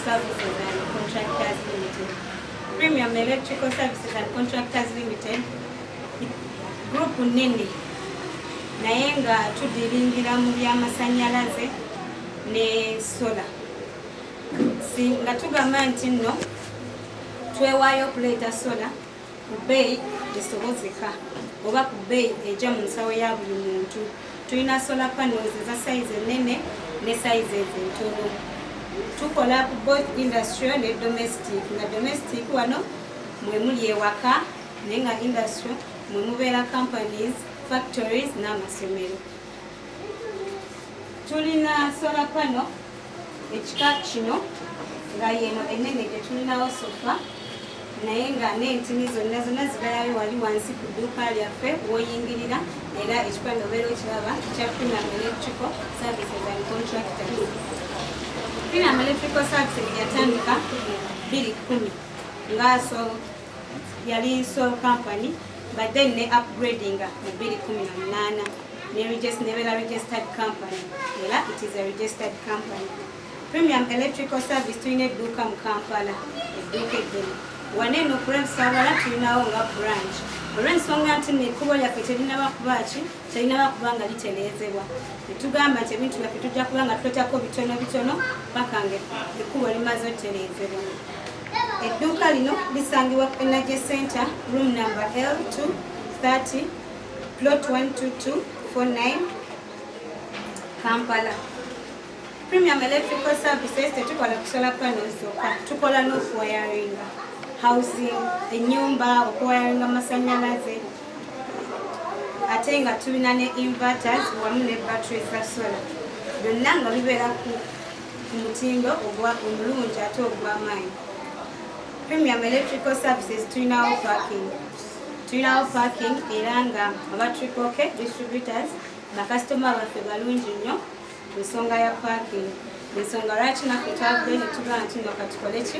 Services and Contractors Limited. Premium Electrical Services and Contractors Limited group nene naye nga tudiringira mu byamasanyalaze ne sola si nga tugamba nti nno twewaayo okuleeta sola ku bbeeyi esobozeka oba ku bbeeyi ejja mu nsawo ya buli muntu tulina sola panels eza sayizi ennene ne sayizi ezo entono tukola ku both industrial ne domestic nga domestic wano mwe muli ewaka naye nga industrial mwe mubeera companies factories n'amasomero tulina sola panel ekika kino nga yeno enene gyetulinawo sofa naye nga n'entini zonna zonna zigalayo wali wansi ku dduuka lyaffe woyingirira era ekika nga obeera okiraba kya premium electrical services and contractors premium electrical services yatandika biri kumi ngaso yali sole company but then ne upgrading mu 2018 ne register ne bela registered company ela it is a registered company premium electrical service tulina edduuka mu kampala edduuka eddene wane no prem sabala tulinawo nga branch olw'ensonga nti nekkubo lyaffe terinaba kuba ki terinaba kuba nga liteleezebwa netugamba nti ebintu byaffe tujja kuba nga tuletako bitono bitono paka nga ekkubo limaze oteleezebwa Edduuka lino lisangibwa ku Energy Center room number L230 plot 12249 Kampala. Premium Electrical Services tetukola kusola panels zokka, tukola n'okuwayaringa housing, ennyumba, okuwayaringa amasannyalaze ate nga tulina ne inverters wamu ne battery za solar byonna nga bibeera ku ku mutindo ogwa omulungi ate ogw'amaanyi premium electrical services tulinawo parking tulinawo parking era nga aba triple k distributors bakasitoma baffe balungi nnyo ku nsonga ya parking ensonga lwaki naffe twavudde ne tugaa nti nga katukole ki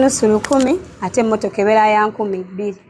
nusu lukumi ate emmotoka ebeera ya nkumi bbiri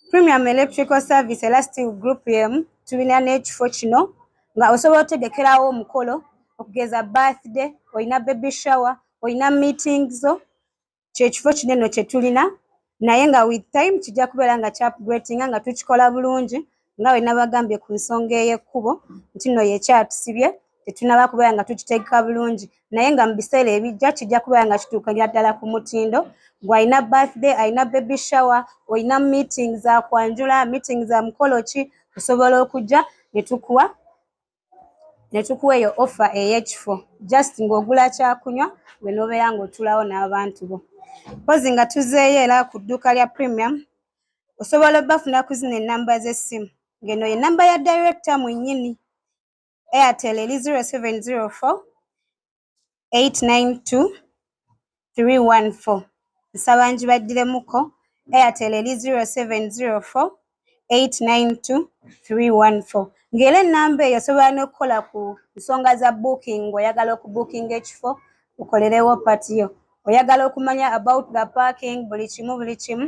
premium electrical service era still group emu tulina n'ekifo kino nga osobola otegekerawo omukolo okugeza birthday olina baby shower olina meeting zo kyekifo kineno kyetulina naye nga with time kijja kubeera nga kyapgretinga nga tukikola bulungi nga bwe nabagambye ku nsonga ey'ekkubo nti no yekyatusibye tetunaba kubeera nga tukitegeka bulungi naye nga mu biseera ebijja kijja kubeera nga kituukanya ddala ku mutindo gwalina birthday alina baby shower olina meeting za kwanjula meeting za mukolo ki osobola okujja ne tukuwa ne tukuwa eyo offa ey'ekifo just ng'ogula kyakunywa gwe n'obeera ng'otulawo n'abantu bo mpozi nga tuzeeyo era ku dduuka lya premium osobola obafuna ku zino ennamba z'essimu ng'eno ye nnamba ya director mwennyini airtel eri 0704 892314 nsaba ngibaddiremuko airtel eri 0704 892314 ng'era ennamba eyo osobola n'okukola ku nsonga za booking ng'oyagala okubuukinga ekifo okolerewo patiyo oyagala okumanya about the parking buli kimu buli kimu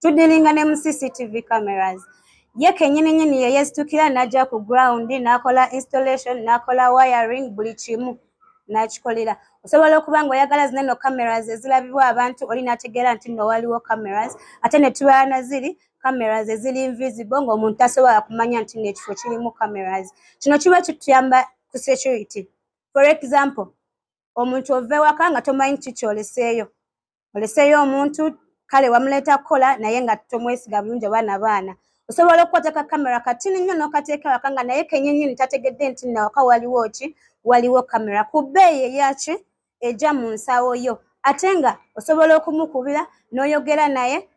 tudilinga ne mu cctv cameras ye kenyini nyini yeyezitukira naja ku ground nakola installation nakola wiring buli kimu nakikolera osobola okuba nga oyagala zina no cameras ezilabibwa abantu oli nategeera nti no waliwo cameras ate netubala naziri cameras ezili invisible ngaomuntu tasobola kumanya nti nekifo kirimu cameras kino kiba kituyamba ku security for example omuntu ova ewaka nga tomanyi kikyoleseeyo oleseeyo omuntu kale wamuleeta kukola naye nga tomwesiga bulungi oba nabaana osobola okukwata ka kamera katini nnyo n'okateeka waka nga naye kenyinyini tategedde nti nawaka waliwo ki waliwo kamera ku bbeeyi eyaki eja mu nsawo yo ate nga osobola okumukubira n'oyogera naye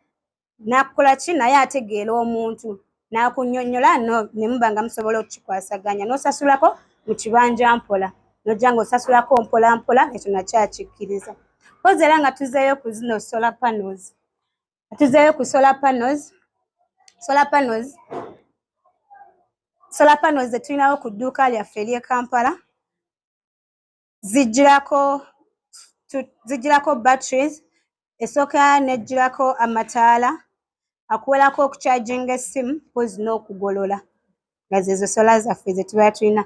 nakukola ki naye ategeera omuntu nakunyonyola no nemuba nga musobola okukikwasaganya nosasulako mu kibanja mpola nojja nga osasulako mpola mpola ekyo nakyakikkiriza kozi era nga tuzeeyo ku zino solar panels tuzeeyo ku solar panels solar panels solar panels zetulinawo ku dduuka lyaffe ery'e kampala zijjirako zijjirako batteries esooka nejjirako amataala akuwerako okucharginga essimu mpozi n'okugolola nga zezo sola zaffe zetubeera tulina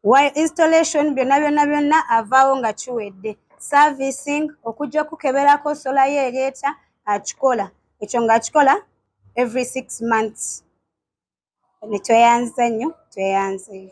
while installation byonna byonna byonna avaawo nga kiwedde servicing okujja okukeberako sola yo ereeta akikola ekyo nga akikola every six months netweyanziza nnyo tweyanzeyo